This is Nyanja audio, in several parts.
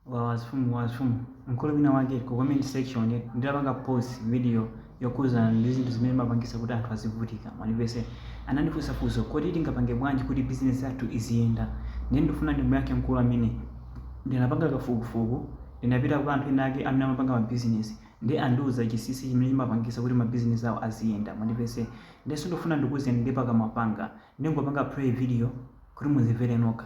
Wawa azimfumu azimfumu mkulu wina wake ku comment section nditapanga post video yokhudzana ndi zinthu zimene zimapangitsa kuti anthu azivutika mwandimvetse anandifunsa funso kodi tingapange bwanji kuti business yathu iziyenda ndiye ndifuna ndimuyankhe mkulu amene ndinapanga kafukufuku ndinapita kwa anthu ena ake amene amapanga ma business ndiye andiuza chinsinsi chimene chimapangitsa kuti ma business awo aziyenda mwandimvetse ndiye sindifuna ndikuuzeni ndi pakamwa panga ndingopanga play video kuti mudzimvere nokha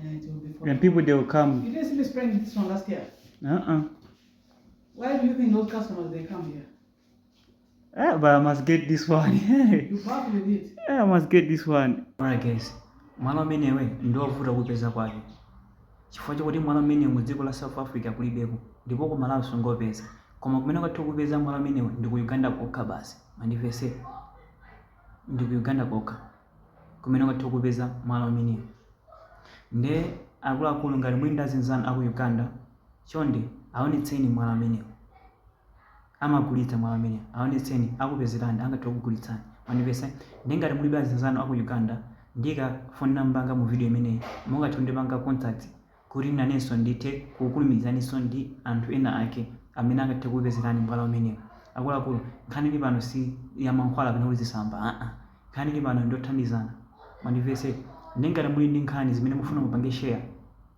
And it will be for And people, they will come. You didn't see me spraying this one last year. Uh-uh. Why do you think those customers, they come here? Ah, but I must get this one. you bath with it. Ah, I must get this one. Alright guys, mwala umenewu ndi wovuta kupeza kwake chifukwa chakuti mwala umenewu mu dziko la south africa kulibeko ndipo ku malawi sungaupeze koma kumene ungathe kupeza mwala umenewu ndi ku uganda kokha basi mwandimvetse ndi ku uganda kokha kumene ungathe kupeza mwala umenewu nde akuluakulu ngati muli ndi azinzanu aku Uganda chonde awonetseni mwala umenewu amagulitsa mwala umenewu awonetseni akupezerani angathe kugulitsani mwandimvetsa nde ngati mulibe azinzanu aku Uganda ndiika phone number yanga mu video imeneyi mungathe kundipanga contact kuti nanenso ndithe kukulumikizaninso ndi anthu ena ake amene angathe kukupezerani mwala umenewu. Akuluakulu, nkhani ili pano si ya mankhwala kapena kuti zisamba aa. Nkhani ili pano ndi yothandizana. Mwandimvetse? Ndiye ngati muli ndi nkhani zimene mukufuna mupange share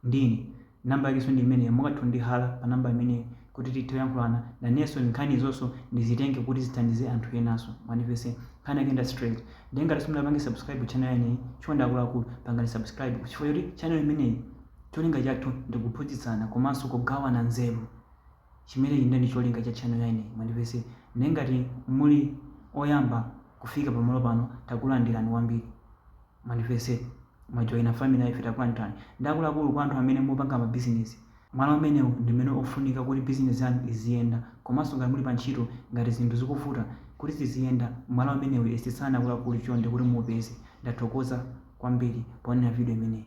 ndi ine, number yakenso ndi imeneyo, mungathe kundihala pa number imene kuti tithe kuyankhulana nanenso nkhanizonso ndizitenge kuti zithandize anthu enanso mwandimvetse nkhani yake ndi ya straight ndiye ngati simunapange subscribe channel imeneyi chonde akuluakulu pangani subscribe chifukwa choti channel imeneyi cholinga chathu ndi kuphunzitsana komanso kugawana nzeru chimenechi ndiye ndi cholinga cha channel imeneyi mwandimvetse ndiye ngati muli oyamba kufika pamalo pano takulandirani kwambiri mwandimvetse mwajoyina family life takulandirani ndiye akuluakulu kwa anthu amene mupanga mabizinesi Mwala umenewu ndi umene ufunika kuti bizinesi yanu iziyenda komanso ngati muli pa ntchito ngati zinthu zikuvuta kuti ziziyenda mwala umenewu yesetsani akuluakulu chonde kuti muupeze. Ndathokoza kwambiri poonera video imeneyi.